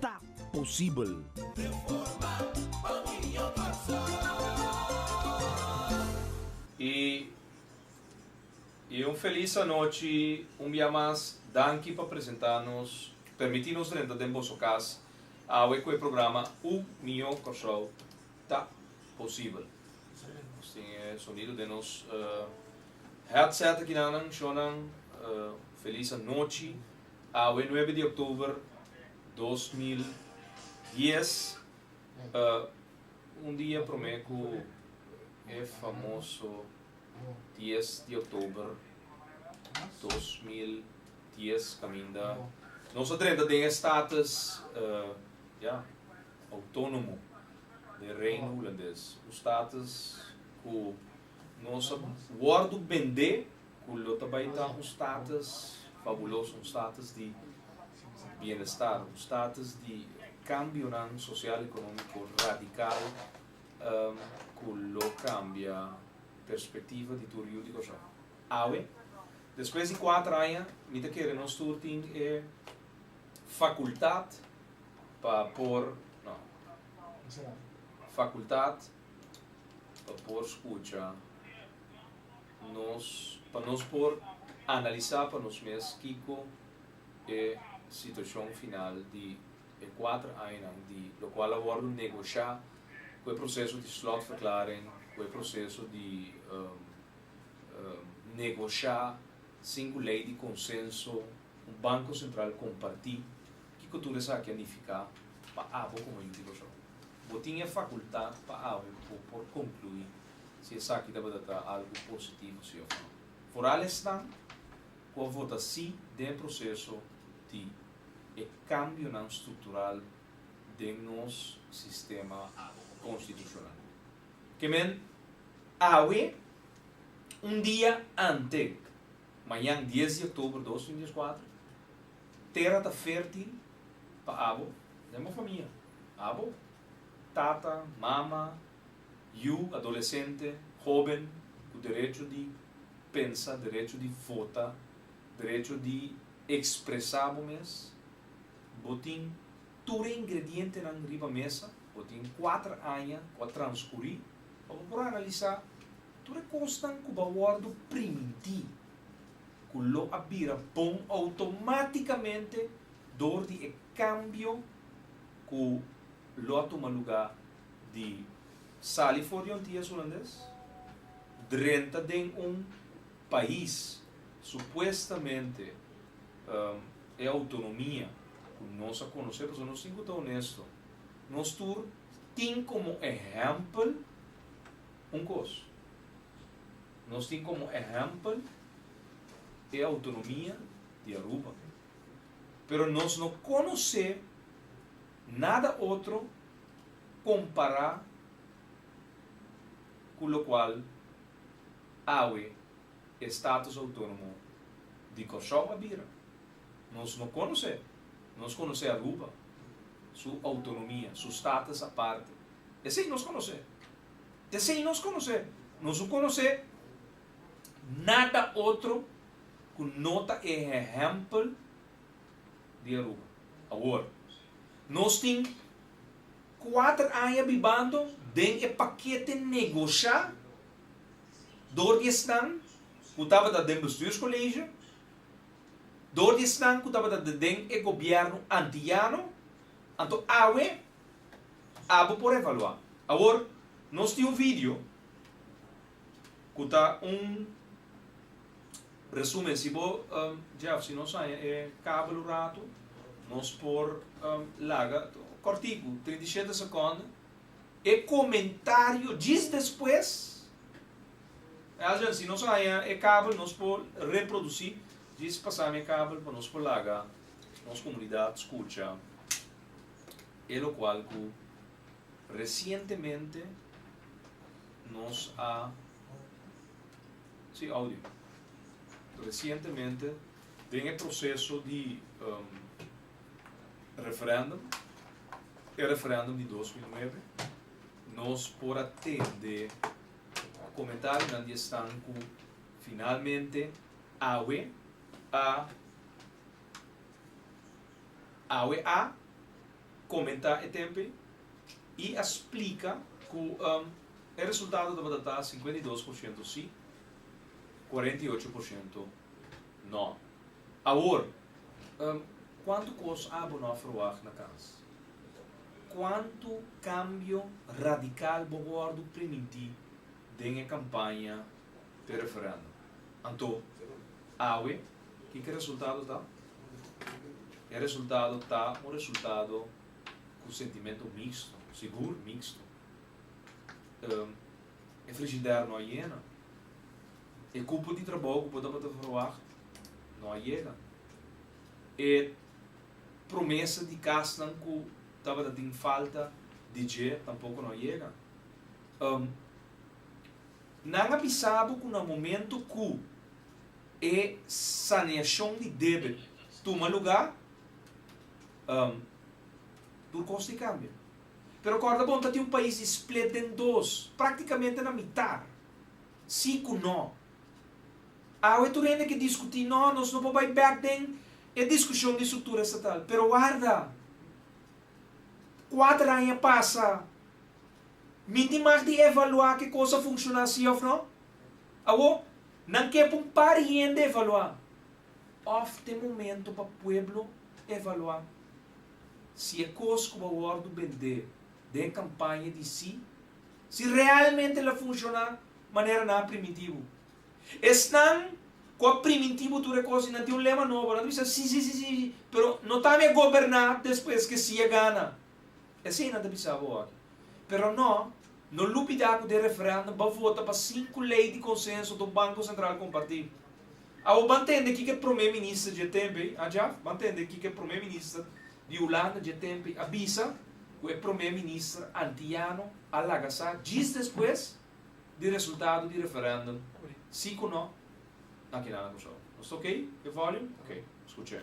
ta posibel. E e un felis anochi un bia mas danki pa presenta nos permiti nos renta den boso cas awe cu e programa un miyo Corsou ta posibel nos tin e sonido den nos headset aki nan nan shon nan felis anochi. Awe nuebe di oktober dos mil dies e un dia promé ku e famoso dies di oktober dos mil dies kaminda nos a drenta den e status ya outónomo den Reino Hulandes, un status ku. Nos a wordo bende cu lo ta bay ta un status fabuloso, un status di bienestar, un status di cambionan social economico radical cu lo cambia perspectiva di tur yu di Cor-sou. Awe, despues di cuater aña, mi ta kere nos tur tin e facultad pa por, no, facultad. pa por scucha nos, pa nos por analisa pa nos mes kico e situacion final di e cuater añanan di locual a wordo negocia cu e proceso di slotverklaring, cu e proceso di negocia sin cu ley di consenso. un banko sentral kompartí, kiko tur esaki a nifiká pa abo komo institushon? Bo tin e fakultá pa abo bo por konkluí si esaki tabata ta algu positivo si òf no. Foral esnan ku a vota sí den e proseso di e kambionan struktural den nos sistema konstitushonal. Ke men awe un dia ante Mañan dies di october dos mil dieskuater, tera ta fertil pa abo den bo famia, abo, tata, mama, yu, adolesente, hoben ku derecho di pensa, derecho di vota, derecho di ekspresa bo mes. Bo tin tur e ingredientenan riba mesa, bo tin kuater aña ku a transkuri pa bo por analisá. Tur e kosnan ku ba wòrdu primintí ku lo a bira bon outomátikamente dor di e kambio ku lo a tuma lugá di sali for di un ties hulandes drenta den un pais supuestamente e outonomia ku nos a konosé pasobra nos tin ku ta onesto nos tur tin komo ehèmpel Un kos, nos tin komo ehèmpel e outonomia di Aruba, pero nos no konosé nada otro kompará ku lokual awe e Status Outonomo di Kòrsou a bira. Nos no konosé, nos konosé Aruba, su outonomia, su status aparte, esei nos konosé. T'esei nos konos'é. Nos lo konos'é nada otro ku no ta e hehèmpel di Aruba. Awor, nos tin kuater aña bibando den e pakete negoshá dor di esnan ku tabata den bestuurskolesio, dor di esnan ku tabata den e gobièrnu antiyano, anto awe Abo por evaluá. Awor, nos tin un vidio ku ta un resumen. Si bo, Jeff, si nos haña e kabel un ratu, nos por laga kòrtiku, trinta i shete sekònde, e komentario djis despues. Alsha, si nos haña e kabel, nos por reprodusí djis pasá mi e kabel pa nos por laga nos komunidat skucha. e locual cu recientemente nos a si audio recientemente den e proceso di um, referendum, e referendum di dos mil nuebe, nos por a tende comentarionan di esnan cu finalmente awe a Awe a comentá e tempe y a splica cu e resultado tabata ta cincuenta y dos por ciento si, cuarenta y ocho por ciento no. Awor, cuanto cos abo no a verwacht na cas? Cuanto cambio radical bo wordo primintí den e campaña? te referendo. Anto, awe, kiko e resultado ta? E resultado ta un resultado ku sentimento mixto, sigur mixto. E frigider no a yena, e kupo di trabou ku bo tabata verwagt no a yega, e promesa di kasnan ku tabata tin falta di dje tampoko no a yega. Nan a bisa bo ku na momentu ku e saneashon di debe tuma lugá, tur kos tin kambia. Pero kòrda bon, ta tin un pais di split den dos, práktikamente na mitá, sí ku nò. Awe tur hende ke diskutí, nò, nos no por bai bèk den e diskushon di struktura estatal. Pero warda, kuater aña pasa. Mi tin mag di evaluá ke kos a funshoná sí òf nò? Awo, nan ke pa un par hende evaluá, òf t'e momentu pa pueblo evaluá si e kos ku bo wòrdu bendé den e kampaña di sí, si realmente lo a funshoná manera nan a primintí bo? Esnan ku a primintí bo tur e kos i nan tin un lema nobo, nan ta bisa sí sí sí sí, pero no ta mi a goberná despues ke sí a gana. Esina ta bisa bo aki. Pero no, no lupida cu den referendum ba vota pa sinku ley di consenso do Banco Central comparti. Awo ban tende kiko e Prome Minister dje tempe, a Jaap? Ban tende kiko e Prome Minister di Hulanda dje tempe a bisa cu e Prome Minister Antiano a laga sa djis despues di resultado di referendum si cu no na keda na Cusau. Nos ta ok? E volume? Ok. Scuch'e.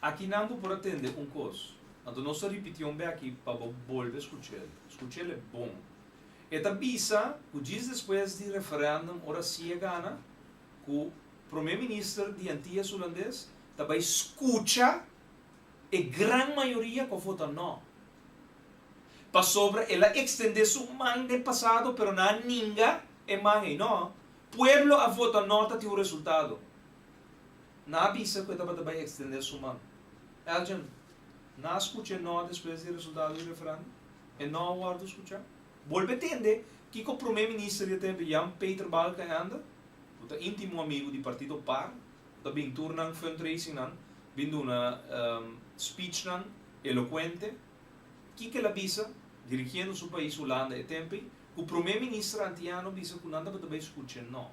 Aki nan bo por a tende un kos, anto nos ta ripiti un bèki pa bo bolbe skuch'el. Skuch'el e bon. E ta bisa ku djis despues di referèndum ora si e gana, ku Promé Minister di Antias Hulandes ta bai skucha e gran mayoria ku a vota nò. Pasobra el a ekstendé su man den pasado pero nan a ninga e man ei. Nò, pueblo a vota nò ta tin un resultado. Na bisa ku e tabata bai ekstendé su man. Elgin, Na skucha e no despues di resultado di referendum? E no a wòrdu skuchá? Bolbe tende kiko Promé Minister di e tempu Jan Peter Balkenende, ku ta íntimo amigu di partido par, ku ta bin tur nan fundraisingnan, bin duna spichnan elokuente. Kiko el a bisa, dirigiendo su pais Hulanda e tempu ei, ku Promé Minister antiano bisa ku nan tabata bai skucha e no.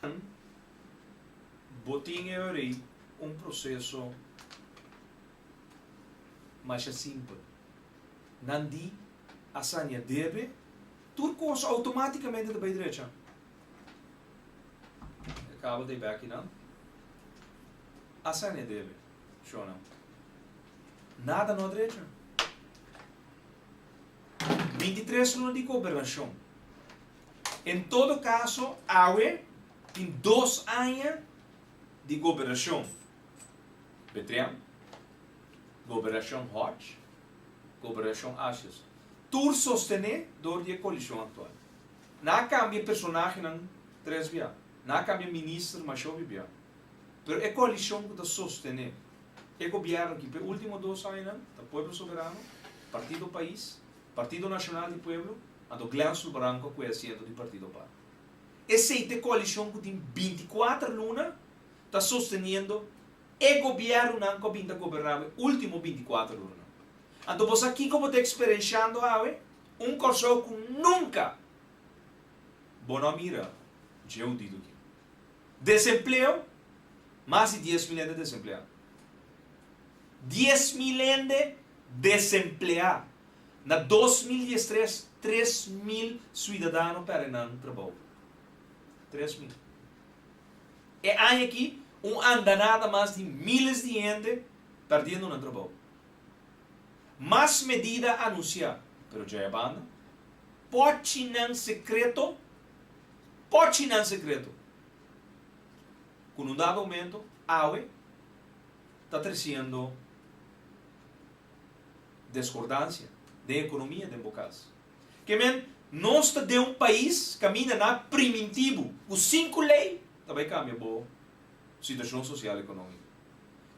Con bo tin e ori un proceso masha simpel. Nan di a saña debe, tur cos automaticamente ta bay drecha. E cabo ta bay aki nan. A saña debe, shona. Nada no a drecha. Bintitres luna di gobernashon. En todo kaso awe tin dos aña di gobernashon, Betrem, Gobernashon Hodge, Gobernashon Ashes, tur sostené dor di e koalishon aktual. Nan a kambia personahenan tres biaha, nan a kambia minister mashó bibiaha, pero e koalishon ku ta sostené. E gobièrnu ki p'e último dos añanan ta Pueblo Soberano, Partido Pais, Partido Nacional di Pueblo, anto Glenstru Barranco ku e asiento di Partido Par. Esei t'e koalishon ku tin binti kuater luna ta sosteniendo e gobièrnunan ku a bin ta goberná bo e último binti kuater lunanan. Anto bo sa kiko bo ta eksperenshiando awe? Un Kòrsou ku nunka bo no a mira dje hudidu akin. Desempleo, Mas di dies mil hende desempleá. Dies mil hende desempleá. Na dos mil dies tres, tres mil suidadano pèrdè nan trabou. Tres mil. E aña aki, un andanada mas di míles di hende pèrdiendo nan trabou. Mas medida anunsiá, pero djaia banda, pòchinan sekreto Ochi nan sekreto ku nun dado momento awe ta tresiendo deskordansia den ekonomia den bo kas. Ke men nos ta den un pais kaminda na primintibu ku sinku lei ta bai kambia bo situashon sosial ekonómiko.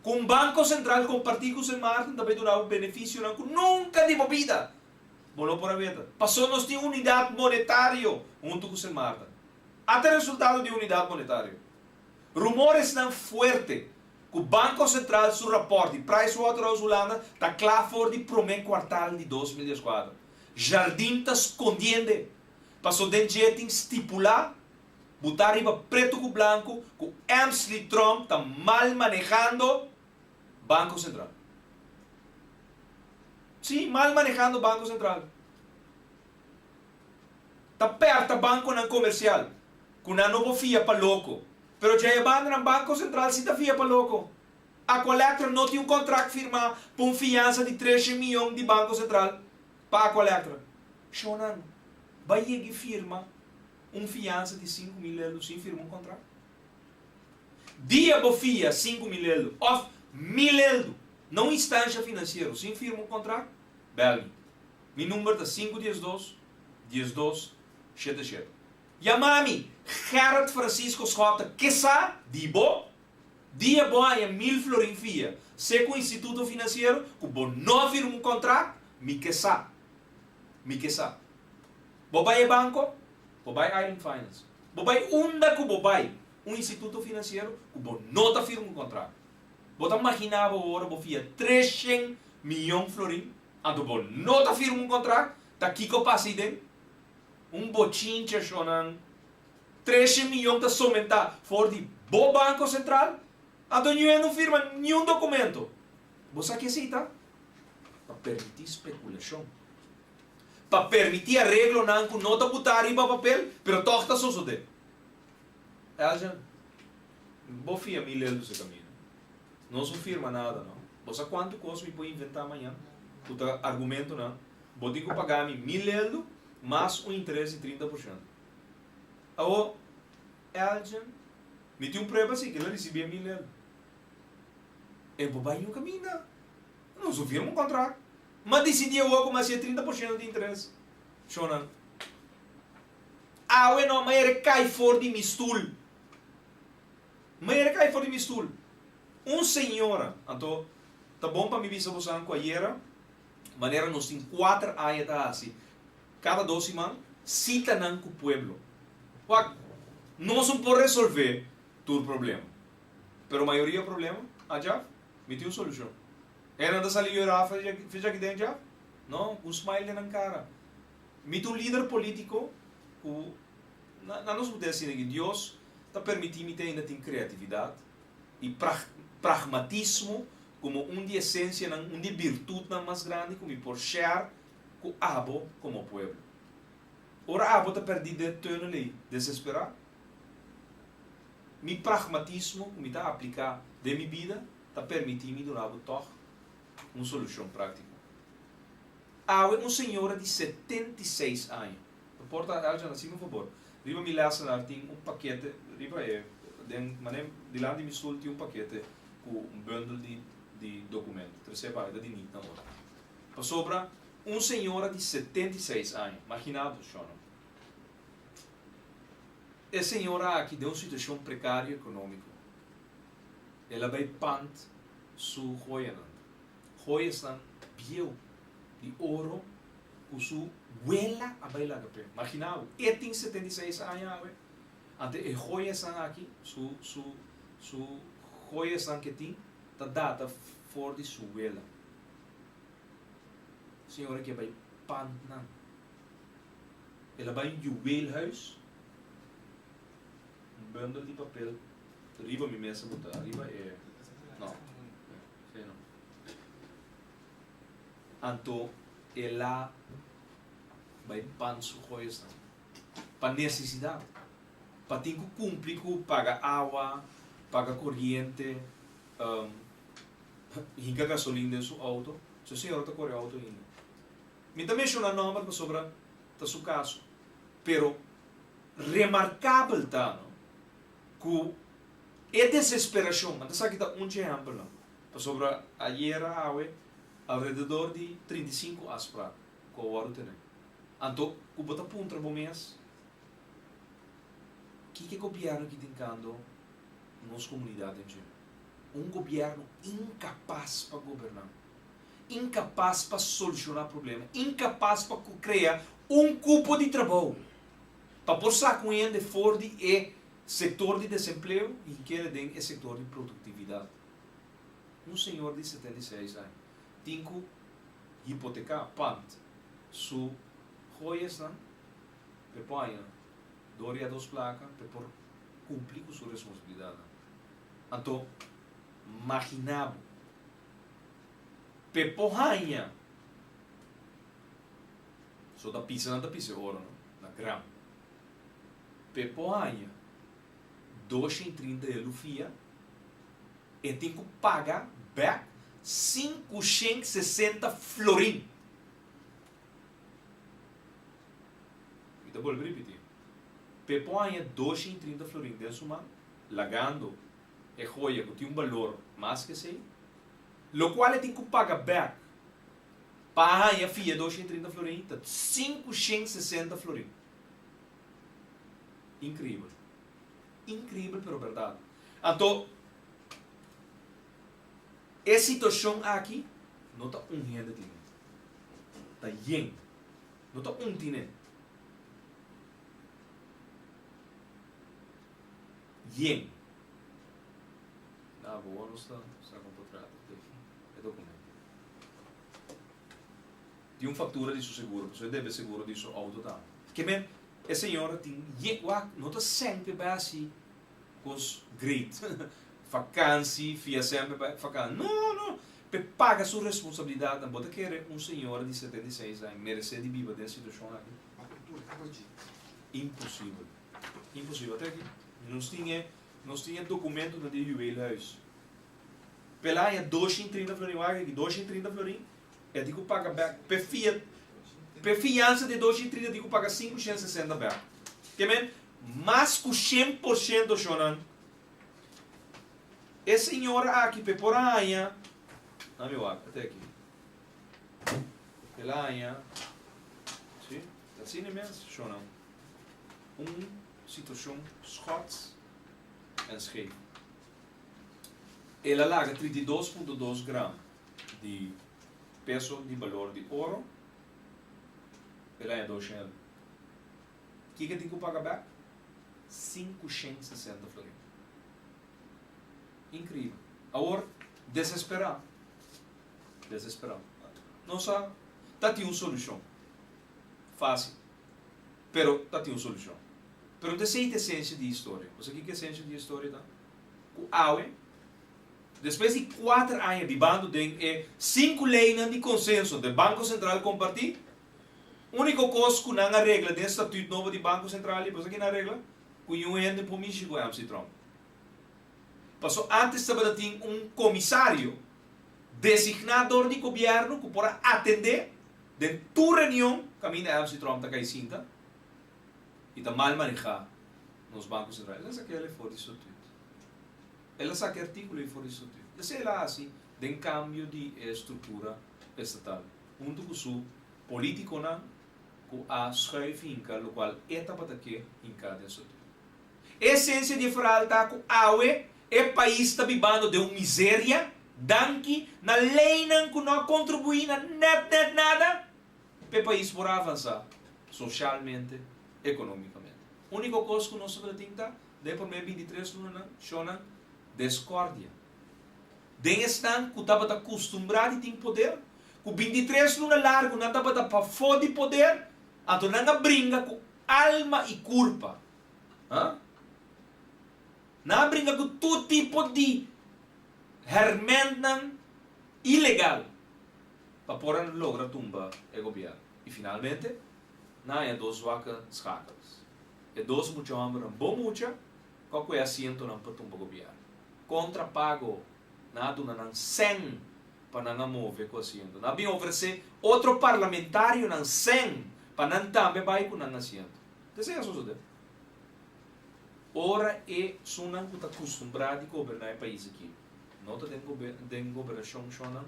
Ku un banko sentral kompartí ku Sen Maarten ta bai duna bo benefisionan ku nunka di bo bida. Bo lo por a meta. Paso nos tin unidat monetario huntu ku Simarta. Ata resultado di unidat monetario. Rumoresnan fuerte ku Banko Sentral su rapòrt di Pricewaterhouse Hulanda ta kla for di promé kuartal di dos mil dieskuater. Jardin ta skondiende, paso den dje tin stipulá butá riba pretu ku blanku ku Emsley Trump ta mal manehando, Banco Central. Sí, mal manejando Banco Central. Ta perta banconan comercial cu nan no por fia pa loco. Pero dja e bandanan Banco Central sí ta fia pa loco. Aqualectra no tin un contract firma pa un fiansa di trece mion di Banco Central pa Aqualectra. Shonnan, bay yegi firma un fiansa di cinco mil lelu sin firma un contract? Dia bo fia sinku mileldu of mileldu na un instansha finansiero sin firma un kontrak, bel mi. Mi number ta sinku dies dos, dies dos, shete shete. Yama mi, Gerrit Francisco Schotten, kisa di bo? Dia bo haña mil florin fia se ku instituto finansiero ku bo no a firma un kontrak, mi kisa. Mi kisa. Bo bai e banco, bo bai Island Finance, bo bai unda cu bo bai, un instituto financiero cu bo no ta firma un contrato. Bo ta magina bo ora bo fia treshen miyon florin, anto bo no ta firma un contrato, ta kico pasa ahi den? Un bochincha shonan, treshen miyon ta somenta for di bo Banco Central, anto niue no firma niun documento. Bo sa ki esey ta? Ta permiti speculacion. pa permití areglonan ku no ta butá riba papel pero tòg ta sosodé. Eljan, Bo fia mi Leldu se kaminda. Nos no firma nada no. Bo sa kuantu kos mi por inventá mañan ku ta argumentunan. Bo tin ku pagá mi mi Leldu mas un interes di trinta por shento. Awo, Eljan, mi tin un prueba si ke lo risibí e mi Leldu. E bo bai no kaminda. Lo su firma un contrato. Ma dicidi awor cu mas si e trinta por ciento di interes. Shonan. Awe no, ma e recai for di mi stoel. Ma e recai for di mi stoel. Un señora, anto ta bon pa mi bisa bosan cu ayera, manera nos tin cuater aña ta haci, cada dos siman, citanan cu pueblo. Wak, nos no por resolve tur problema. Pero mayoria problema, a Jaf? Mi tin un solucion. E nan ta sali yora fecha aki den dja? No, cu un smile den nan cara. Mi ta un lider politico cu, na nos bute asina aki, Dios ta permiti mi ta ainda tin creatividad y pragmatismo como un di esencianan, un di birtutnan mas grandi cu mi por share cu abo como pueblo. Ora abo ta perdi de töneley, desespera, Mi pragmatismo ku mi ta apliká den mi bida ta permití mi duna bo tòg un solushon práktiko. Awe un señora di setenta i seis aña, no porta el dja nasí, mi fabor, riba mi lèsenar tin un pakete, riba e den manera dilanti di mi sul tin un pakete ku un bundel di di dokumento, trese pa mi, ta di nit na ora. Pasobra un señora di setenta i seis aña, magina bo, shònò. E señora aki den un situacion precario economico. El a bay pant su hoyanan. Hoyasnan bieu, di oro, cu su guela a bay laga p'e. Magina awe, e tin setenta i seis aña awe, anto e hoyasnan aki, su, su, su hoyasnan cu e tin ta data for di su guela. Señora aki a bay pantnan. El a bai un juweelhuis. Un bundel di papel riba mi mesa bo ta. Riba e. No. Si e no. Anto el a bai pan su goesnan. Pa nesesidat. Pa tin ku kumpli ku paga awa, paga koriente, hinka gasolin den su outo. Su señora ta kore outo hinda. Mi ta menshona nòmber pasobra ta su kaso, pero remarkabel ta no ku e desesperashon, nan ta sa kita un chehèmpel nan, pasobra ayera awe alrededor di trinta i sinku aspra ku a wòrdu tenè. Anto ku bo ta puntra bo mes, kiko gobièrnu ki tin kando nos komunidat den China? Un gobièrnu inkapas pa gobernan. Inkapas pa solushoná problema. Inkapas pa ku krea un kupo di trabou pa por saka un hende for di e sektor di desempleo i keda den e sektor di produktividat. Un señor di setenta i seis aña tin ku hipoteká pand su hoyasnan pa e por haña dor ya dos plaka pa e por kumpli ku su responsabilidatnan. Anto, maginá bo! Pe por haña. So ta pisa nan ta pisa e oro, no? Na gram. Pe por haña dosha i trinta e lufia, e tin ku paga bèk sinku shen sesenta florin. Mi ta bolbe ripití. Pe por haña dosha i trinta florin den su man, lagando. e hoya ku tin un balor mas ku esei, lokual e tin ku paga bèk pa haña fia e dosha i trinta florin, ta sinku shen sesenta florin. Inkribel! Inkribel pero bèrdat. Anto, e situashon aki no ta un hende tin e, ta yen. No ta un tin e. Yen. Na bo nos ta usa kon kontrato te fin e dokumento. Tin un faktura di su seguro pasobra e debe seguro di su outo tambe. Ke men e señor a tin yen wak no ta sempe bai asi kon su great fakansi fia sempe bai fakansi no no pe paga su responsabilidatnan bo ta kere un señora di setenta i seis aña merese di biba den situashon aki? Imposibel. Imposibel ta aki. Nos tin e nos tin e documento ta den juweelhuis. Pe el haña dosha i trinta florin. Wak aki, dosha i trinta florin e tin ku paga bek. Pe fia pe fiansa di e dosha i trinta tin ku paga sinku shen sesenta bek. Te men mas ku shen por shento shonnan. E señora aki pe por a haña ami wak te aki. El a haña, si, ta asina mes, shonan, un situacion Schots en Schei. El a laga trinta i dos punto dos gram di peso di balor di oro, el a haña dos shen algu. Kiko tin ku paga bek? Sinku shen sesenta florin. Inkribel. Awor, desesperá. Desesperao. Nos a ta tin un solucion. Facil. Pero ta tin un solucion. Pero ta esey ta esencia di e historia. Bo sa kico e esencia di e historia ta? Cu awe, despues di cuater aña bibando den e cinco leynan di consenso den Banco Central comparti, unico cos cu nan a regla den e statuut nobo di Banco Central y bo sa kico nan a regla? Cu niun hende por mishi cu MC Trump. Paso antes tabata tin un comisario designa door di gobierno cu por a atende den tur reunion caminda Adams y Trump ta cay sinta y ta mal maneha nos Banco Central. El a sa kela for di su tuit. El a sa ki articulo ey for di su tuit. Esey el a haci den cambio di e estructura estatal hunto cu su politiconan cu a schuif hinca lo cual e tabata ke hinca den su tuit. E esensia di e ferhal ta ku awe e pais ta bibando den un miseria danki na leinan ku no a kontribuí na nèt nèt nada pa e pais por a avansá soshalmente, ekonomikamente. Úniko kos ku nos tabata tin ta, den e promé bintitres lunanan, shónan, deskòrdia den esnan ku tabata kustumbrá di tin poder, ku bintitres luna largu nan tabata pafó di poder Anto nan a bringa ku alma i kurpa. Ha? Nan a bringa ku tur tipo di hèrmèntnan ilegal pa por a logra tumba e gobièrnu. I finalmente, nan a haña dos waka skakels. E dos mucha hòmbernan bo mucha ku a kué asientonan pa tumba gobièrnu, kontra pago nan a duna nan sen pa nan a move cu asiento. Nan a bin ofrece otro parlamentario nan sen pa nan tambe bay cu nan asiento. Desee a sosode ora esunnan cu ta custumbrá di goberna e pais aki no ta den gobernacion shonnan,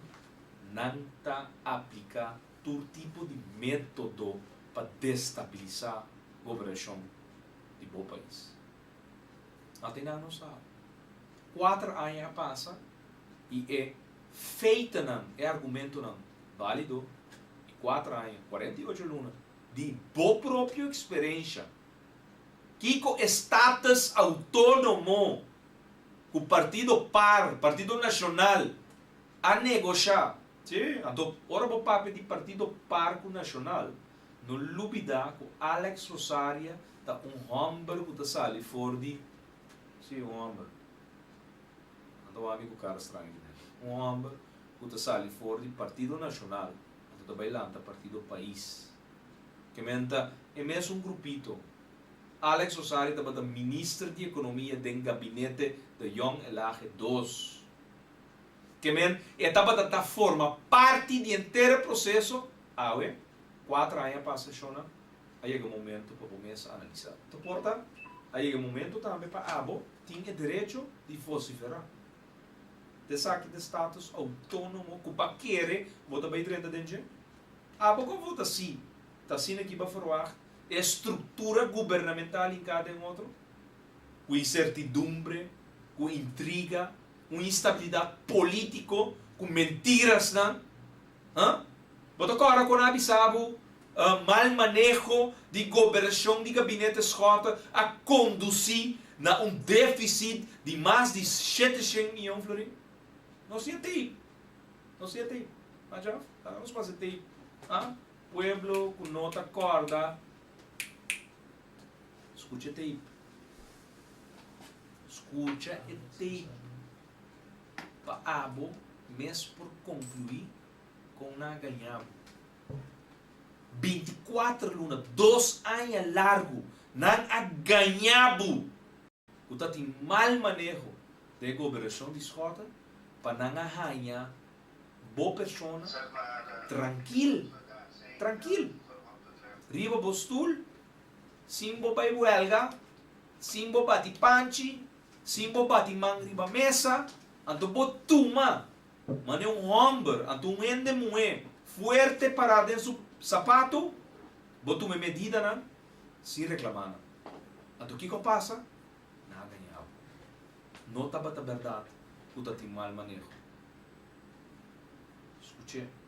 nan ta aplicá tur tipo di método pa destabilisá gobernacion di bo pais. Ate nan no sabe. Kuater aña a pasa i e feitenan, e argumentonan bálido, i kuater aña, kuarenta i ocho luna, di bo propio eksperensha, kiko e status autónomo ku partido par, Partido Nashonal, a negoshá? Sí, anto ora bo papia di partido par ku Nashonal, no lubidá ku Alex Rosaria ta un hòmber ku ta sali for di. Si, un homber. Nan ta wak mi ku kara strange den. Un homber ku ta sali for di Partido Nacional anto ta bai lanta Partido Pais. Kemen ta e mesun grupito. Alex Osario tabata minister di Economia den gabinete de Young Elage dos. Kemen e tabata ta forma parti di entero proceso. Awe, cuatro aña pasa shona. a yega momento pa bo mes analisá. Ta por ta a yega momento tambe pa abo tin e derecho di vociferá. Ta esaki ta status autónomo ku pa kere bo ta bai drenta den dje? Abo ku a vota sí, ta asina ki bo a ferwagt e estruktura gubernamental in kada un otro? Ku insertidumbre, ku intriga, un instabilidat polítiko ku mentirasnan Hã? Bo ta kòrda ku nan a bisa bo mal maneho di goberashon di gabinete Scott a kondusí na un défisit di mas di shete shen mion florin? Nos tin e tei. Nos tin e tei. M'a djòf? Laga nos pasa e tei. Hã? Pueblo ku no ta kòrda, skucha e tei. Skucha e tei. pa abo mes por konkluí kon nan a gañá bo. Binti kuater luna, dos aña largu, nan a gañá bo ku ta tin mal maneho den e gobernashon di Schotten pa nan a haña bo persona trankil, trankil, riba bo stul, sin bo bai huelga, sin bo bati panchi. Si bo bati man riba mesa, anto bo tuma manera un hòmber, anto un hende muhé fuerte pará den su sapatu, bo tuma e medidanan sin reklamá nan. Anto kiko a pasa? Nan a gañá bo. No tabata bèrdat ku tatin mal maneho. Skuch'é.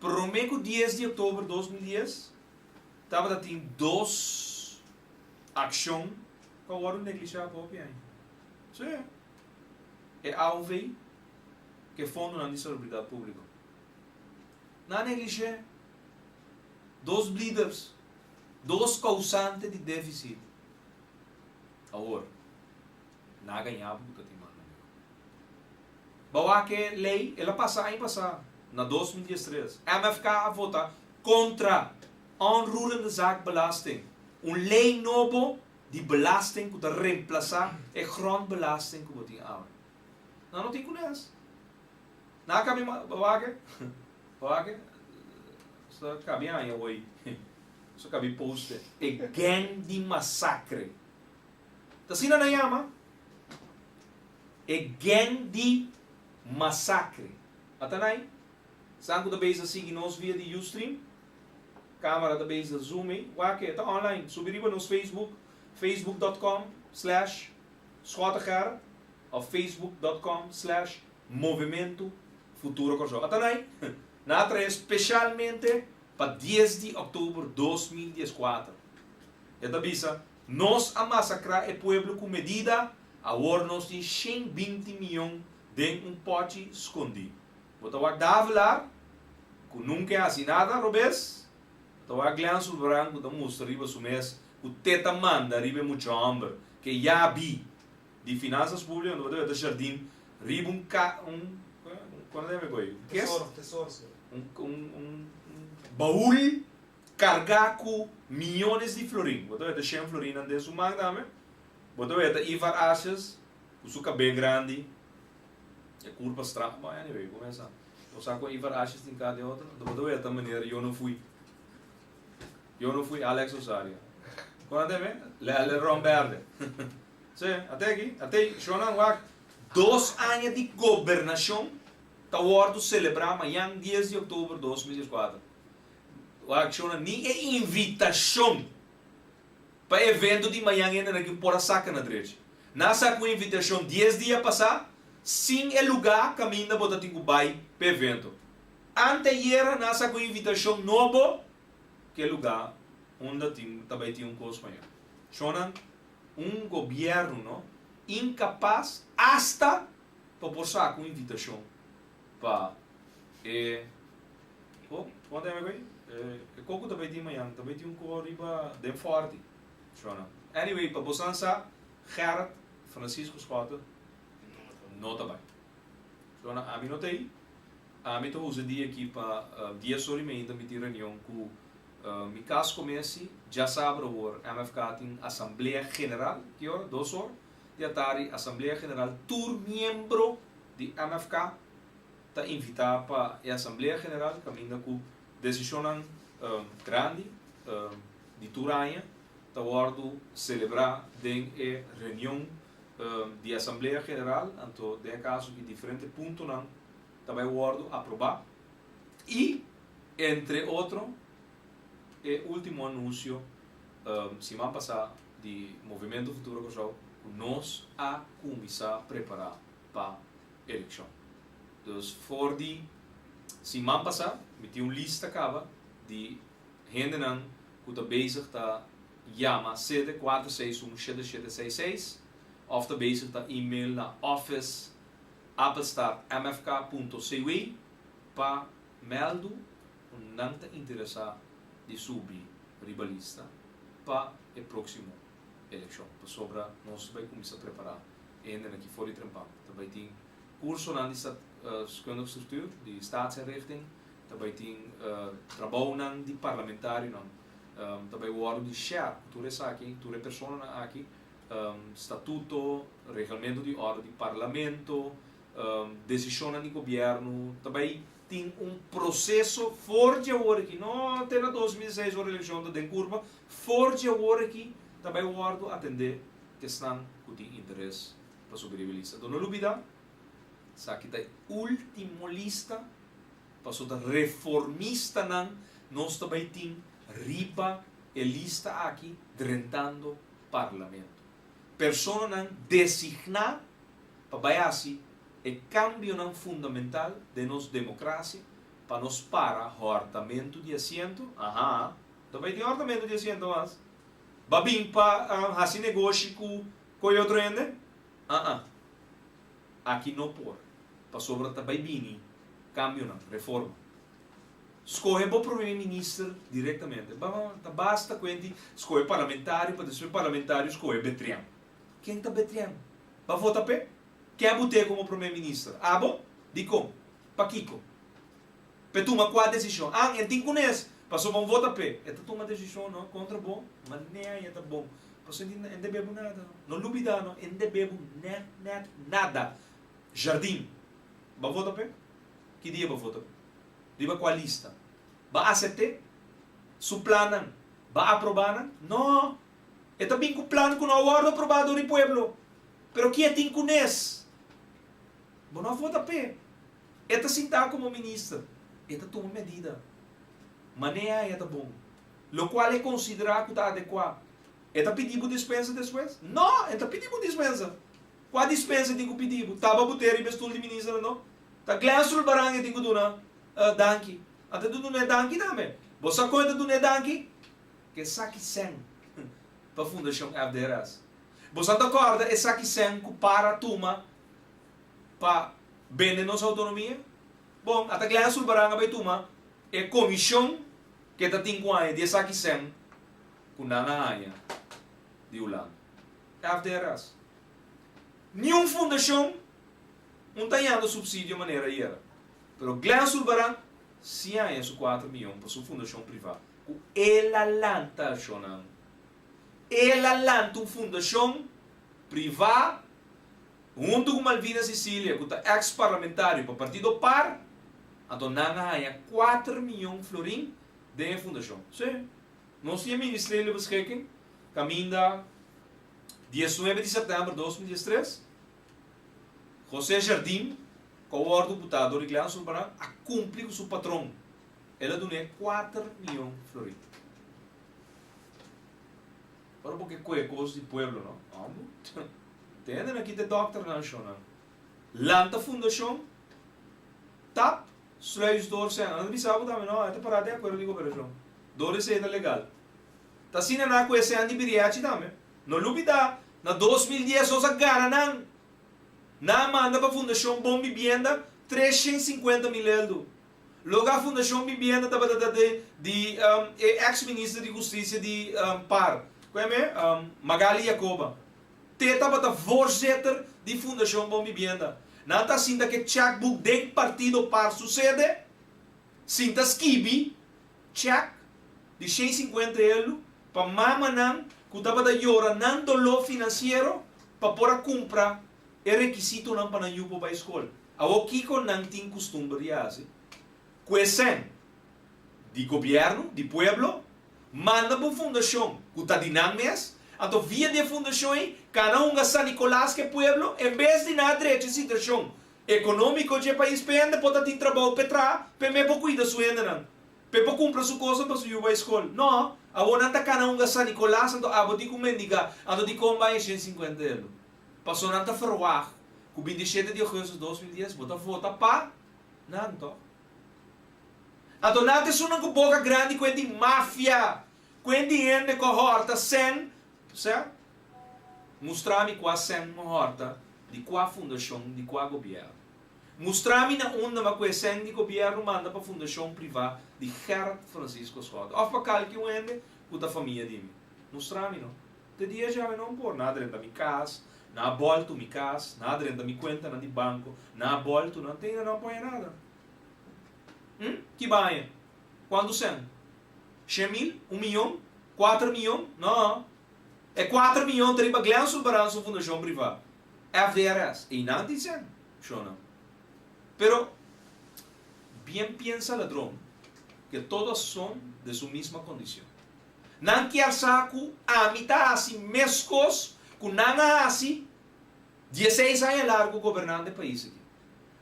Prome ku dies di oktober dos mil dies tabata tin dos akshon ku a wòrdu neglishá pa hopi aña. Sí, e AOV ku e fondonan di Salubridat Públiko nan a neglish'é dos bleeders, dos kousante di défisit awor. Na gañá bo ku ta tin manga mihó. Bo a wak ke lei, el a pasa aña pasá, na dos mil dies tres. MFK a votá kontra Onroerende Zaak Belasting, un lei nobo di belasting ku ta remplasá e grondbelasting ku bo tin awe. Na no tin ku nes. Na kambia ma, bo a wak ke, bo a wak ke, Sa kambia aña wei. Sa kambia poste. E gèng di masakre. Ta asina nan yama e gèng di masakre. Ata nan ei? San ku ta bisa sigui nos via di Ustream, kamera ta bisa zoom ei, wak e ta online. Subi riba nos Facebook, facebook dot com slash Schoteger of facebook dot com slash Movimento Futuro Kòrsou. Ata nan ei? Nan a trae speshalmente pa dies di òktober dos mil dies kuater. E ta bisa. Nos a masacrá e pueblo cu medida, awor nos tin shen binti miyon den un pochi scondí. Bo ta wak Davelar, cu nunca e haci nada robes, bo ta wak Glean Zulbrand cu ta mustra riba su mes cu te ta manda riba e mucha homber ke ya bi di Finanzas Publica unda bo ta beta shardin riba un ca un con a ta yama e goi? Tesoro, tesoro, sor. un un un baul carga cu miyones di florin, bo ta weta shen florinnan den su man tambe, bo ta weta Ivar Asias cu su cabel grandi, e cur pa straf man anyway cu mesa bo sa cu Ivar Asias tin car di otro, bo ta weta meneer yo no fui, yo no fui Alex Rosario, con a teme le le ron berde si a te aki a tey shonnan wak. Dos aña di gobernacion ta wordo celebra mayan dies di october dos mil diescuater Ku akshonnan ni e invitashon pa e evento di mañan hende na ke por a saka na drechi. Nan a sa ku e invitashon dies dia pasá sin e lugá kaminda bo ta tin ku bai pa e evento. Anteayera nan a sa ku e invitashon nobo ku e lugá unda tin ta bai tin un kos mañan. Shonnan un gobièrnu no inkapas asta pa por saka un invitashon pa e ho kua ta hende e koko ta bai tin mañan ta bai tin un koho riba den forti shona anyway pa bosan sa Gerrit Francisco Schotten no ta bai shona ami no ta i ami ta usa dia aki pa dia so di mainta mi tin reunion ku mi kas komesi djasabra awor MFK tin asamblea general ki ora dos ora Dia ta di Asamblea General tur miembro di MFK ta invitá pa e Asamblea General caminda cu decisionnan grandi di tur aña ta wordo celebrá den e reunion di Asamblea General anto den e caso cu diferente puntonan ta bay wordo aprobá y entre otro e ultimo anuncio siman pasá di Movimiento Futuro Kòrsou ku nos a kuminsá prepará pa elekshon. Dus for di siman pasá mi tin un lista kaba di hendenan ku ta bezig ta yama sete kuater seis un shete shete seis seis òf ta bezig ta email na office apenstaartmfk punto cw pa mèldu ku nan ta interesá di subi riba lista pa e próksimo elekshon. Pasobra nos bai kuminsá prepará hende nan ki for di Trempan. Ta bai tin kursonan di Statskundig Struktuur, di Statsinrichting, ta bai tin trabounan di parlamentarionan, ta bai wòrdu di shèr ku tur esaki, tur e personanan aki, statuto, regelmento di òrdu di parlamento, Desishonnan di gobièrnu ta bai tin un proseso for dje awor aki, no te na dos mil seis ora elekshon ta den kurba, for dje awor aki ta bai wòrdu atendé kesnan ku tin interes pa subiria e lista. Anto no lubidá, esaki ta e último lista pasobra ta reformistanan, nos ta bai tin riba e lista aki drentando parlamento. Personanan designá pa bai hasi e kambionan fundamental den nos demokrasia pa nos para hòrtamentu di asiento, aha, ta bai tin hòrtamentu di asiento mas? Ba bin pa hasi negoshi ku ku e otro hende? Aha, aki no por, pasobra ta bai bini kambionan, reforma. Scohe bo prome minister directamente. Ba ta basta cu enti scohe parlamentario pa despues parlamentario scohe Betrian. Ken ta Betrian? Ba vota p'e? Ke bo te como prome minister? Abo? Dicon? Pakico? P'e tuma cua decision? An e tin cunes? Pasobra un vota p'e e ta tuma decision no contra bo? Manera aye ta bon. Paso enti e n'ta bebo nada no. No lubida no, e n'ta bebo nada. Jardin. Ba vota p'e? ki dia bo vota bo? Riba kua lista? Ba asepte su plannan? Ba aproba nan? No! E ta bin ku plan ku no a wòrdu aprobá dor e pueblo. Pero ki e tin ku nes? Bo no a vota p'e. E ta sintá komo minister. E ta tuma medida. Manea e ta bon. Lokual e konsiderá ku ta adekuá. E ta pidi bo dispensa despues? No! E ta pidi bo dispensa. Kua dispensa tin ku pidi bu taba bu te riba e stul di minister no? Ta Glen Sulbarang e tin ku duna e danki. A ta duna e danki tambe. Bo sa kon e ta duna e danki? Esaki sèn pa fundashon FDRS. Bo sa ta kòrda esaki sèn ku para tuma pa bende nos outonomia? Bon, ata Glen Sulbarang a bai tuma e komishon ku e ta tin ku haña di esaki sèn ku nan a haña di Hulanda. FDRAs. Niun fundashon un ta yanda supsidio manera ayera, pero Glen Zurbarán si a haya su kuater miyon pa su fundashon privá ku el a lanta ashonan. El a lanta un fundashon privá huntu ku Malvina Sicilia ku ta eks parlamentario pa partido par, anto nan a haya kuater miyon florin den e fundashon. Sí. Nos tin e Ministerio Beschikking kaminda diesnuebe di sèptèmber dos mil diestres. José Jardim, ku a wòrdu butá dor di Gleana Zurbarán, a kumpli ku su patron, el a dun'é kuater mion florì. Ora bo ke koe kos di pueblo, no? Ambu, tende nan kita e dòkternan, shonnan. Lanta fundashon, tap. Sluisdor Sena, Nos a bisa bo tambe no, e ta pará den akuerdo di koperashon. Dor di esei ta legal. Ta asina na ku e sena di Biriachi tambe. No lupida, na dos mil dies nos a gana nan. Nan a manda pa Fundashon Bon Bibienda tres shen sinkuenta mil eldu. Loga Fundashon Bibienda tabata ta di di e eks minister di hustisia di par, ku e me? Magali Yacoba. Te tabata voorzitter di Fundacion Bon Bibienda. Nan ta sinta ke checkbook den partido par sucede, sinta skibi check di shei sinkuenta elu pa mamanan ku tabata yora nan doló financiero pa por a kumpra e rekisitonan pa nan yupo bai skol. Awo kiko nan tin kustumber di hasi? Cu escen di gobierno di pueblo manda bo fundacion cu ta di nan mes, anto via di e fundacion ey cana hunga San Nicolas cu e pueblo en bes di na drecha e situacion economico dje pais p'e hende por ta tin trabao p'e traha p'e me por cuida su hendenan p'e por cumpra su cosan pa su yu bay scol. No, awor nan ta cana hunga San Nicolas anto abo tin cu mendiga anto tin con bay e ciento cincuenta euro. Paso nan ta verwacht cu bintisiete di augustus dos mil dies bo ta vota pa. Nan tòg. Ato nan ta sunan ku boka grandi ku e tin mafia, ku e tin hende ku a hòrta sèn, p'esei a mustra mi kua sèn a hòrta di kua fundashon, di kua gobièrnu. Mustra mi na unda ma ku e sèn di gobièrnu manda pa fundashon privá di Gerrit Francisco Schouten òf pa kalki un hende ku ta famia di mi. Mustra mi no. Te dia dje ami no a por na drenta mi cas, na a boltu mi cas, na a drenta mi cuentanan di banco, na a boltu nan te ainda no a poña nada. Hm? Ki baña? Cuantu cen? Shen mil? Un miyon? Cuater miyon? No. E cuater miyon ta riba Glen Zulbarán su fundacion priva, FDRS. Einan tin cen? Shona. Pero, bien piensa ladron, que todo a son den su misma condicion. Nan kier sa ku ami ta hasi meskos ku nan a hasi dieseis aña largu gobernando e pais aki.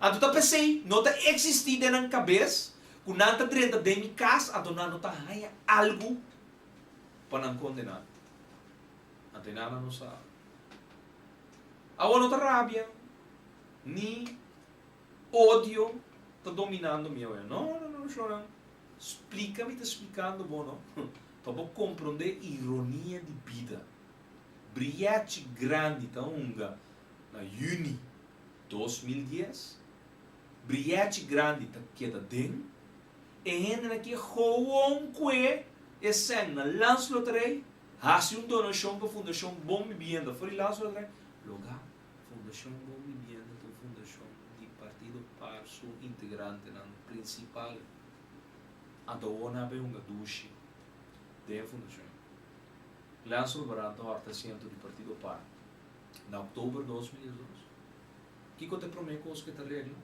Anto ta p'esei no ta eksistí den nan kabes ku nan ta drenta den mi kas anto nan no ta haña algu pa nan kondená. Anto e nana nos sa awor no ta rabia ni odio ta dominando mi awe. No, no, no, no, shonnan. Splica mi ta splicando bo no pa bo comprende ironia di bida. Briachi grandi ta hunga na juni dos mil dies, briachi grandi ta keda den, e hendenan ke gewoon kue e sèn na Landsloterij, hasi un donacion pa Fundacion Bon Bibienda for di Landsloterij, lo ga. Fundashon Bon Bibienda ta un fundashon di Partido Par su integrantenan prinsipal anta awor nan a bay hunga dushi den e fundashon ei. Leanso Alvarado ta horta asiento di Partido Par na October dos mil diesdos. Kico ta e prome cos cu e ta regla?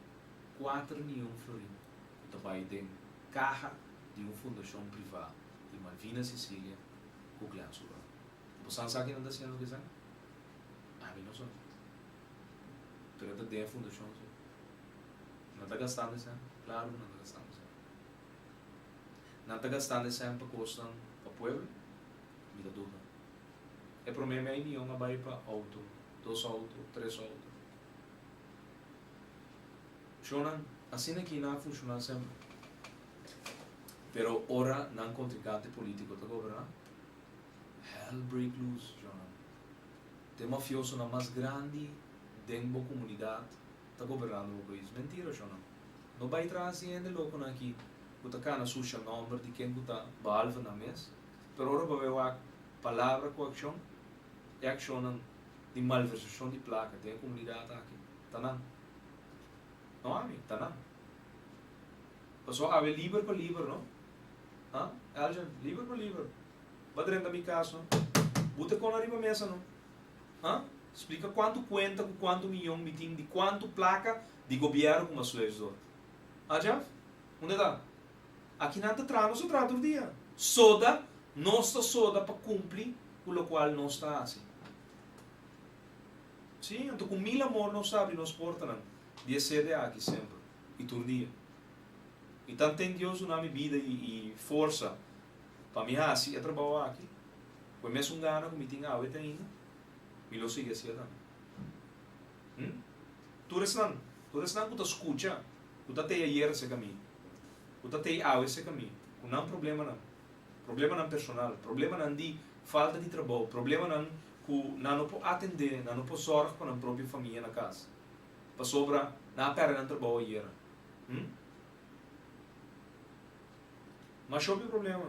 Cuater miyon florin cu ta bay den caha di un fundashon priva di Malvina Sicilia cu Gleanso Alvarado. Boso a sa kinan ta haciendo cu esaki? Ami no son asina. Pero ta den e fundashon su. Nan ta gastando e sèn? Klaru nan ta gastando e sèn. Nan ta gastando e sèn pa kosnan pa pueblo? Mi ta duda. E promé mei mion a bai pa outo, dos outo, tres outo. Shonnan, asina aki nan a funshoná semper. Pero ora nan kontrinkante polítiko ta goberná, hell break loose, shonnan. T'e mafiosonan mas grandi den bo comunidad ta gobernando bo pais. Mentira sho no? No bay traha sin hende loconan aki cu ta cana sucia nomber di ken cu ta behalve nan mes. Pero ora bo bay wak palabra cu accion, e accionnan di malversacion di placa den e comunidad aki ta nan. No ami, ta nan. Pasobra awe liber pa liber no? Ha? Elgin, liber pa liber. Ba drenta mi cas no. Bu ta con ariba mesa no. Ha? Splica cuanto cuenta cu cuanto miyon mi tin di cuanto placa di gobiero cu Masuesh dor. Ha Jeff? Unda ta? Aki nan ta traha nos ta traha tur dia. Soda nos ta soda pa cumpli cu locual nos ta haci. Si, anto cu mil amor nos ta abri nos portanan di e sede aki semper y tur dia. Y tan ten Dios duna mi bida y forsa. Pa mi hasi e trabou aki cu e mesun gana cu mi tin awe ta hinga, mi lo sigui haciel tambe. Hm? Tur esnan, tur esnan cu ta scucha, cu ta tey ayer ce cami, cu ta tey awe ce cami, cu nan problemanan, problemanan personal, problemanan di falta di trabou, problemanan cu nan no por atende, nan no por zorg pa nan propio famia na cas, pasobra nan a perde nan trabou ayer. Hm? Mas shòpi problema.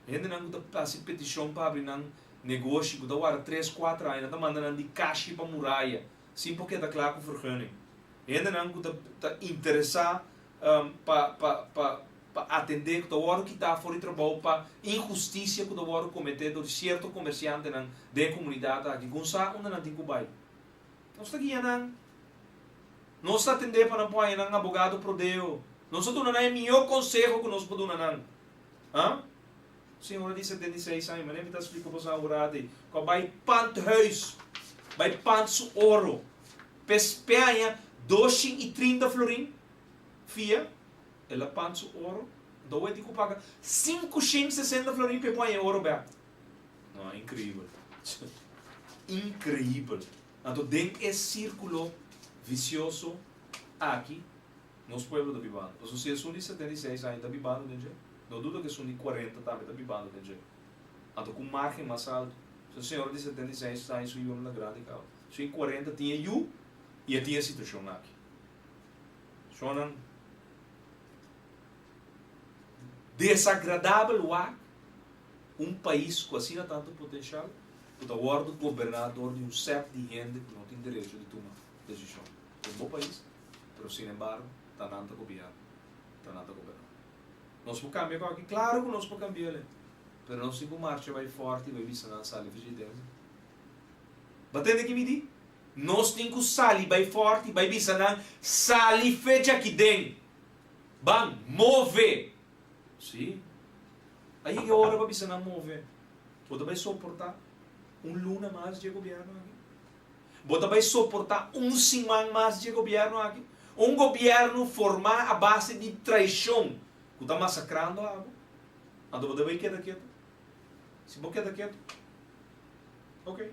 Hendenan ku ta hasi petishon pa abri nan negoshi ku ta wara tres, kuater aña nan ta manda nan di kashi pa muraya sin por keda kla ku vergunning. Hendenan ku ta interesá pa pa pa pa atendé ku ta wòrdu kitá for di trabou pa inhustisia ku ta wòrdu kometé dor di sierto komersiantenan den komunidat aki ku no sa unda nan tin ku bai. Nos ta guia nan. Nos ta atendé pa nan por haña nan abogado prodeo. Nos a duna nan e mihó conseho cu nos por duna nan. Huh? Un señora di setenta i seis aña, manera mi ta splica boso ahora aki, cu a bai pant huis, bai pant su oro, pes pe haña dos shin i trinta florin fia, el a pant su oro, enton awor e tin cu paga sinku shin sesenta florin pe por haña e oro back. No, increíbel. Increíbel. Anto den e círculo vicioso aki nos pueblo ta bibando. Pasobra si esun di setenta i seis aña ta bibando den dje, no duda cu esun di cuarenta tambe ta bibando den dje. Anto cu margen mas alto. Su señora di setenta i seis aña su yunan ta grandi causa. Su e cuarenta tin e yu y a tin e situacion aki. Personanan desagradabel wak Un pais cu asina tantu potencial cu ta wordo goberna dor di un set di hende cu no tin derecho di tuma decision den bo pais pero sin embargo ta nan ta gobierna, ta nan ta goberna. Nos por cambia coki? Claro cu nos por cambia le pero nos tin cu marcha bay forte y bay bisa nan sali faci diferencia. Bo a tende ki mi di? Nos tin cu sali bay forte y bay bisa nan sali fecha aki den! Ban move! Sí. A yega e ora pa bisa nan move. Bo ta bai soportá un luna mas dje gobièrnu aki? Bo ta bai soportá un siman mas dje gobièrnu aki? Un gobièrnu formá a base di traishon ku ta masakrando abo? Anto bo ta bai keda ketu? Si bo keda ketu, ok,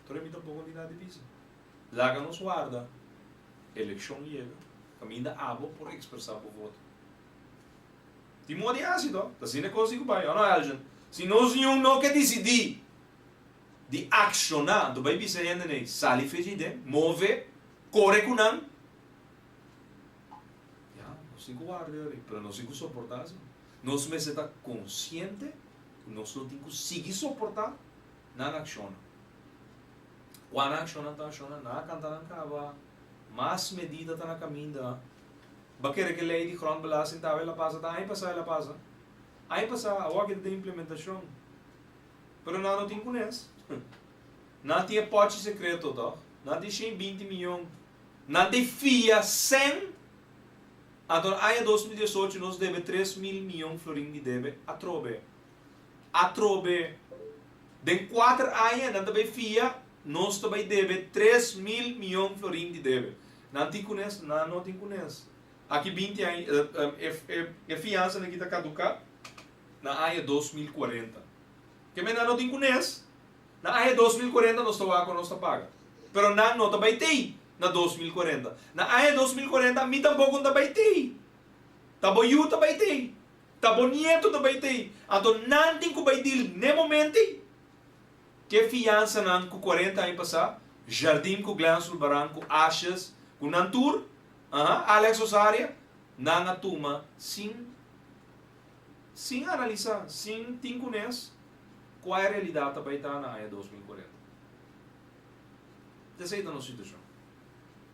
tur e mi tampoko no tin nada di bisa. Laga nos warda, elekshon yega, kaminda abo por ekspresá bo voto. Tin moda di hasi to, ta asina con si cu bay, o no Elgin? Si nos Union no ke dicidi di acciona, anto bay bisa e hendenan ey, sali fecha y den, move, core cu nan, ya, nos tin cu warda di awe, pero nos tin cu soporta si, nos mester ta consciente cu nos no tin cu sigui soporta nan acciona, cu nan acciona ta acciona, nan a canta nan caba. Mas medida ta na kaminda. Ba kere ke lei di grondbelasting ta awel a pasa, ta aña pasa el a pasa. Aña pasa, awo aki ta den implementashon. Pero nan no tin kunes. Nan tin e pochi sekreto tòg. Nan tin shen i binti miyon. Nan ta e fia sèn. Anto aña dos mil diesocho nos debe tres mil miyon florin di debe atrobe. Atrobe den kuater aña nan ta bay fia, nos ta bay debe tres mil miyon florin di debe. Nan tin kunes? Nan no tin kunes. Aki binti aña, e fiansa aki ta kaduka na aña dos mil kuarenta. Ke men nan no tin kunes? Na aña dos mil kuarenta nos ta wak ora nos ta paga. Pero nan no ta bay tey na dos mil kuarenta. Na aña dos mil kuarenta mi tampoko no ta bay tey. Ta bo yu ta bay tey. Ta bonieto ta bay tei, anto nan tin cu bay dil n'e moment'ey? Ke fiansanan cu cuarenta aña pasá, Jardim cu Glen Sulbaran cu Ashes cu nan tur, aha, Alex Rosaria, nan a tuma sin sin analisa, sin tin cu nes cua e realidad ta bay ta na aña dos mil cuarenta? Esey ta nos situacion.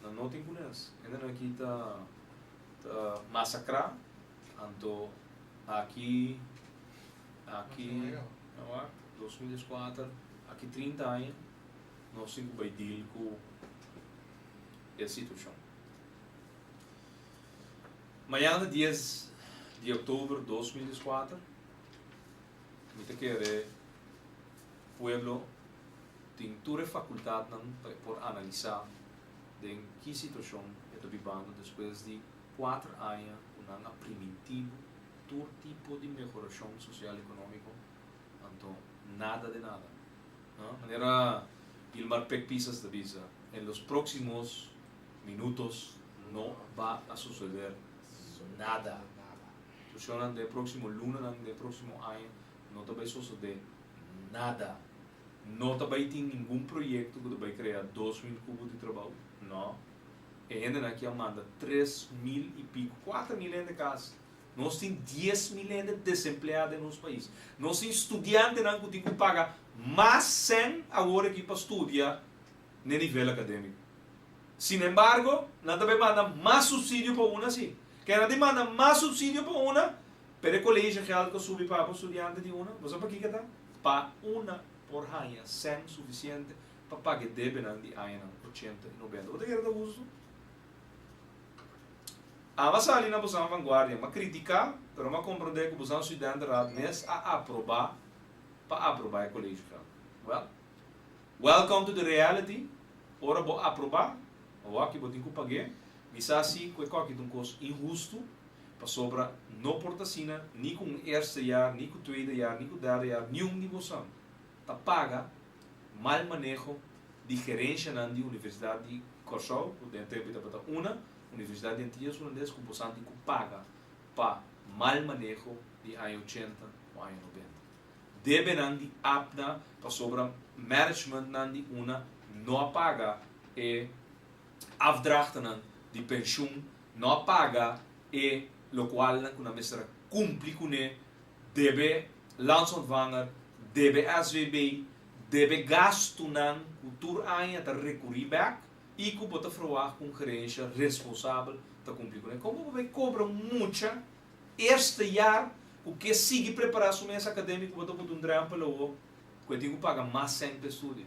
Nan no tin kunes. Hendenan aki ta masakrá. Anto aki, aki, a wak, dos mil dies kuater, aki trinta aña nos tin ku bai deal ku e situashon. Mañana dies di oktober dos mil dies kuater mi ta kere. Pueblo tin tur e fakultatnan pa e por analisá den ki situashon e ta bibando despues di kuater aña ku nan a primintibu tur tipo di mehorashon sosial ekonómiko, anto nada de nada. Manera Gilmar Pekpisas ta bisa, en los próximos minutos no ba a suceder nada. Situashonnan den e próksimo lunanan, den e próksimo aña No ta bai sosode nada. No ta bai tin ningun proyekto ku ta bai krea dos mil kubo di trabou. No. E hendenan aki a manda tres mil i piku, kuater mil hende kas. Nos tin dies mil hende desempleá den nos pais. Nos tin studiantenan ku tin ku paga mas sèn awor aki pa studia n'e nivel akadémiko. Sinembargo, nan ta bai manda mas supsidio pa una, si. Ke nan tin manda mas supsidio pa una, Pero e colegio geld cu subi pa bo studiante di una, bo sa pakica ta? Pa una por hanja cen suficiente pa paga e debenan di añanan ochenta y nobenta. Bo ta kere ta hustu? Ama sali na bosan vanguardia, ma critica, pero ma comprende cu bosan studentenraad mes a aproba pa aproba e colegio geld. Well, welcome to the reality, ora bo aproba, awaki bo tin cu pag'e, mi sa si cu e coki ta un cos inhustu, Pasobra no por ta asina ni ku un eerste jaar, ni ku tweede jaar, ni ku derde jaar, niun di bosan ta paga mal maneho di gerenshanan di Universidat di Kòrsou, ku den tempu i tabata una Universidat di Antillas Hulandes, ku bosan tin ku paga pa mal maneho di aña ochenta o aña nobenta. Debenan di APNA pasobra managmentnan di una no a paga e afdrachtenan di pensioen No a paga e lokualnan ku nan mester a kumpli kuné, debe Landsontvanger, debe SVB, debe gastunan ku tur aña ta rekurí bèk i ku bo ta ferwagt ku un gerensha responsabel ta kumpli kuné. Kon bo bai kobra un mucha eerste jaar ku ke sigui prepará su mes akadémiko, bo ta bota un drèmpel awor ku e tin ku paga mas sèn pa e studio?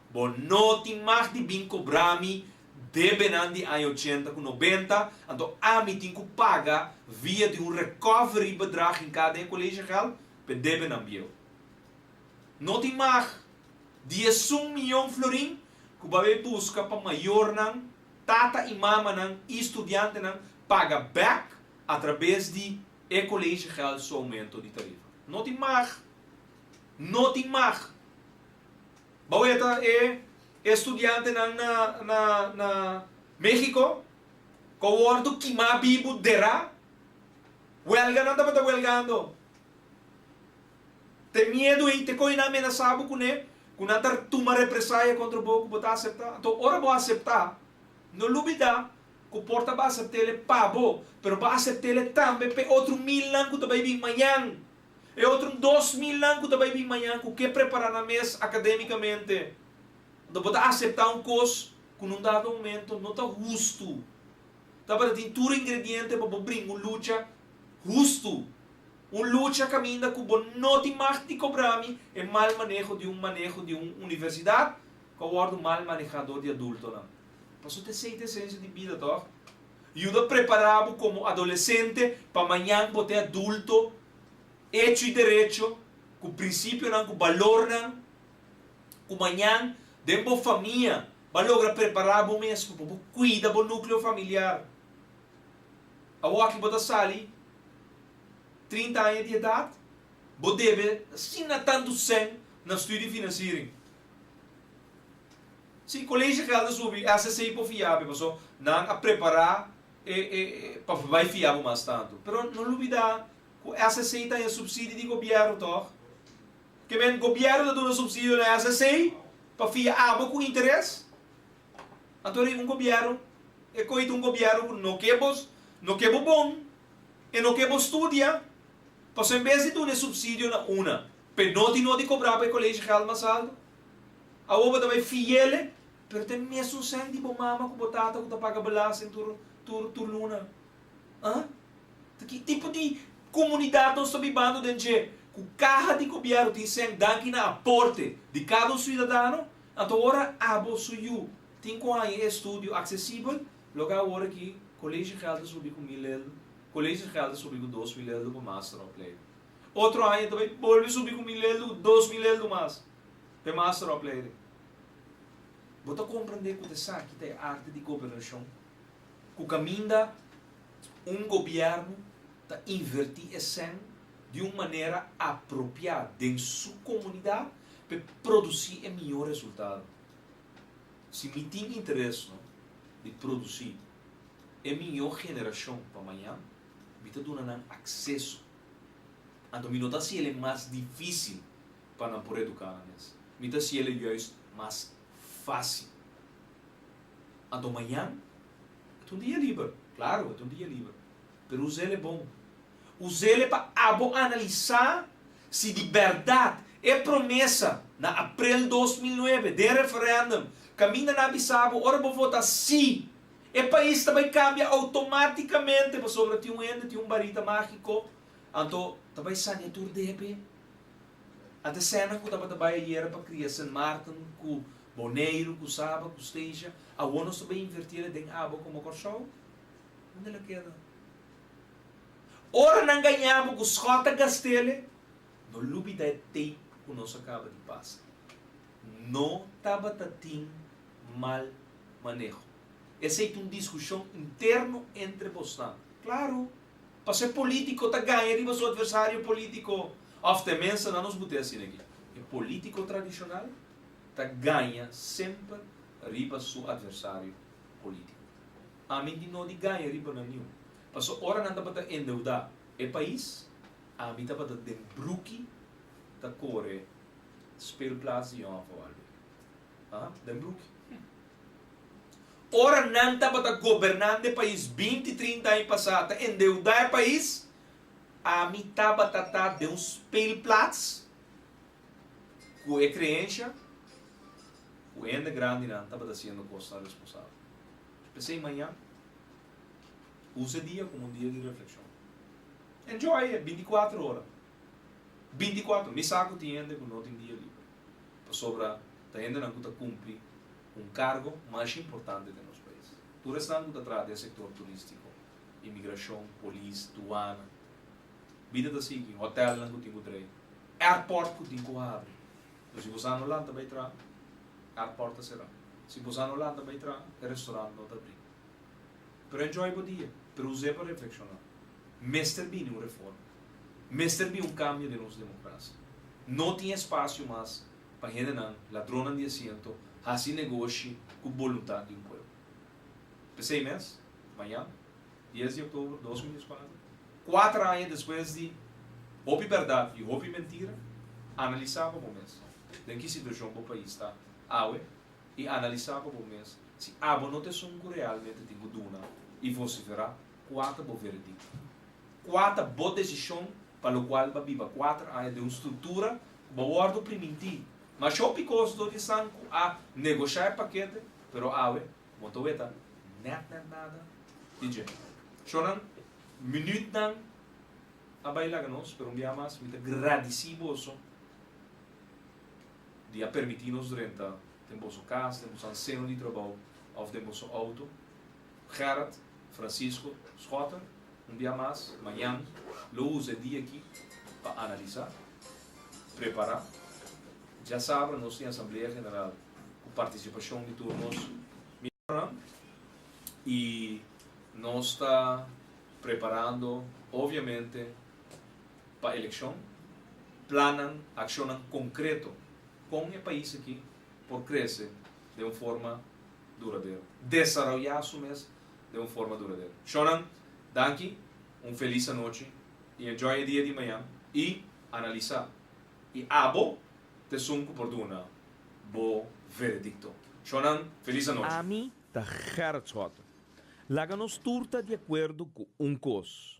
Bo no tin mag di bin cobrá mi debenan di aña ochenta cu nobenta, anto ami tin cu paga via di un recovery bedrag hincá den e collegiegeld pa e debenan bieu. No tin mag di esun miyon florin cu bo a bay busca pa mayornan, tata y mamanan y studiantenan paga bek atrabes di e collegiegeld su aumento di tarifa. No tin mag! No tin mag! Bo e ta e estudiantenan na Mexico cu a wordo kima bibu dera? Welganan tabata welgando. Te miedu ei te con e nan amenasa bo cune cu nan ta tuma represaya contra bo cu bo ta acepta. Anto ora bo acepta, no lubida cu por ta bo acepta el e pa bo, pero bo acepta el e tambe p'e otro milnan cu ta bay bin mañan. E otro dos milnan cu ta bay bin mañan cu ke prepara nan mes academicamente, unda bo ta acepta un cos cu nun dado momento no ta hustu. Tabata tin tur ingrediente pa bo bringa un lucha hustu. Un lucha caminda cu bo no tin mag di cobra mi e mal maneho di un maneho di un universidad cu a wordo mal maneha door di adultonan. Pasobra esey ta esencia di bida, toch? Yuda prepará bo komo adolesente pa mañan bo ta e adulto echo i derecho, ku prinsipionan ku balornan ku mañan den bo famia bo a logra prepará bo mesku pa bo kuida bo núkleo familiar. Awoaki bo ta sali trinta aña di edat, bo debe asina tantu sèn na studi finansiering. Si, colegio gel ta subi, SSC por fiabe, paso nan a prepara pa bai fia bo mas tanto. Pero no lubida cu SSC ta den subsidio di gobierno toch? Ke men gobierno ta duna subsidio na SSC pa fia abo cu interes? Anto e un gobierno, e coi ta un gobierno cu no ke bo, no ke bo bon, e no ke bo studia, paso en bes di duna e subsidio na una, P'e noti no di cobrá pa e colegio geld mas alto. Awor bo ta bay fiel e. Pero ta e mesun cent di bo mama cu bo tata cu ta paga belasting tur tur tur luna. Huh? Ta ki tipo di comunidad nos ta bibando den dje? Cu caha di gobierno tin cent danki na aporte di cada un ciudadano? Anto ora abo su yu tin cu haya e estudio accesibel, loke awor aki colegio geld ta subi cu mil elder, colegio geld ta subi cu dos mil elder pa master of play. Otro aña ta bay bolbe subi cu mil eldu cu dos mil eldu mas pa e master opleiding. Bo ta comprende cu ta esaki ta e arte di gobernacion? Cu caminda un gobierno ta inverti e cen di un manera apropia den su comunidad pa produci e miyo resultado. Si mi tin interes no di produci e miyo generacion pa maña, mi ta duna nan acceso Anto mi no ta hasi el'e mas difícil pa nan por educá nan mes. Mi ta hasi el'e juis mas fácil. Anto mañan e ta un dia liber. Claro, e ta un dia liber. Pero usa el'e bon. Usa el'e pa abo analisá si di berdad e promesa na aprel dos mil nuebe den referendum, caminda nan a bisa bo ora bo vota sí, E pais ta bai cambia automaticamente pasobra tin un hende tin un barita magico, anto ta bai sania tur depe. A ta escena cu tabata bai ayera pa cria Sint Maarten cu Boneiru cu Saba cu Stasia, awor nos ta bai invertira den Abo como Corsow? Hunde lo keda? Ora nan gaña bo cu Schott ta gastele, no lubida e tape cu nos a caba di pasa. No tabata tin mal maneho. Esei ta un diskushon interno entre bosnan. Klaru, pas'e polítiko ta gaña riba su atversario polítiko, òf tenmenste nan nos mute asina aki. E polítiko tradishonal ta gaña semper riba su atversario polítiko. Ami di no di gaña riba nan niun. Paso ora nan tabata endeudá e pais, ami tabata den bruki ta kore. Speelplaats di Jong Afo Albi. Aha, den Bruki. Ora nan tabata gobernante e pais binti, trinta aña pasá, ta endeudá e pais, ami tabata ta den un speelplaats ku e kreensha ku hende grandinan tabata siendo kosa responsabel. P'esei maña usa e dia komo un dia di reflekshon. Enjoy e binti kuater ora. 24, Mi sa ku tin hende ku no tin dia liber, pasobra ta hendenan ku ta kumpli un kargo mas importante den nos pais. Tur esnan ku ta traha den sektor turístiko, imigrashon, polis, duana. Bida ta sigui, hotèlnan ku tin ku drai, airport ku tin ku abri. Entonces, si bo sa no lanta bai traha, airport ta sera. Si bo sa no lanta bai traha, e restorant no ta bri. Pero enjoy bo dia, pero us'é pa reflekshoná. Mester bini un reforma. Mester bin un kambio den nos demokrasia. No tin espasio mas pa hendenan ladronnan di asiento hasi negoshi ku boluntat di un pueblo. P'esei mes, mañan, dies di oktober dos mil dieskuater, kuater aña despues di hopi bèrdat i hopi mentira, analisá pa bo mes den ki situashon bo pais ta awe i analisá pa bo mes si abo no ta esun ku realmente tin ku duna i vosiferá kua ta bo veredikto. Kua ta bo desishon pa lokual bo a biba kuater aña den un struktura ku bo a wòrdu oprimintí? Ma hopi kos lo di esan ku a negoshá e pakete, pero awe bo ta weta nèt nèt nada di dje. Shornan, minütnan a bai laga nos, pero un biaha mas mi ta gradisí boso. di a permití nos renta den boso kas, den boso alseno di trabou òf den boso outo. Gerard, Francisco, Schotter, un bia mas, mañan, lo usa e dia akí pa analisá, prepará. Djasabra nos tin Asamblea General ku partisipashon di tur nos mierdonan i nos ta preparando, obviamente, Pa elekshon, plannan, akshonnan konkreto kon e pais aki por krese den un forma duradero, desaroyá su mes den un forma duradero. Shonnan, danki, un felis anochi i enjoy e dia di mañan i analisá. I abo t'esun ku por duna bo veredikto. Shonnan, felis anochi. Ami ta Gerrit Schotten. Laga nos tur ta di akuerdo ku un kos,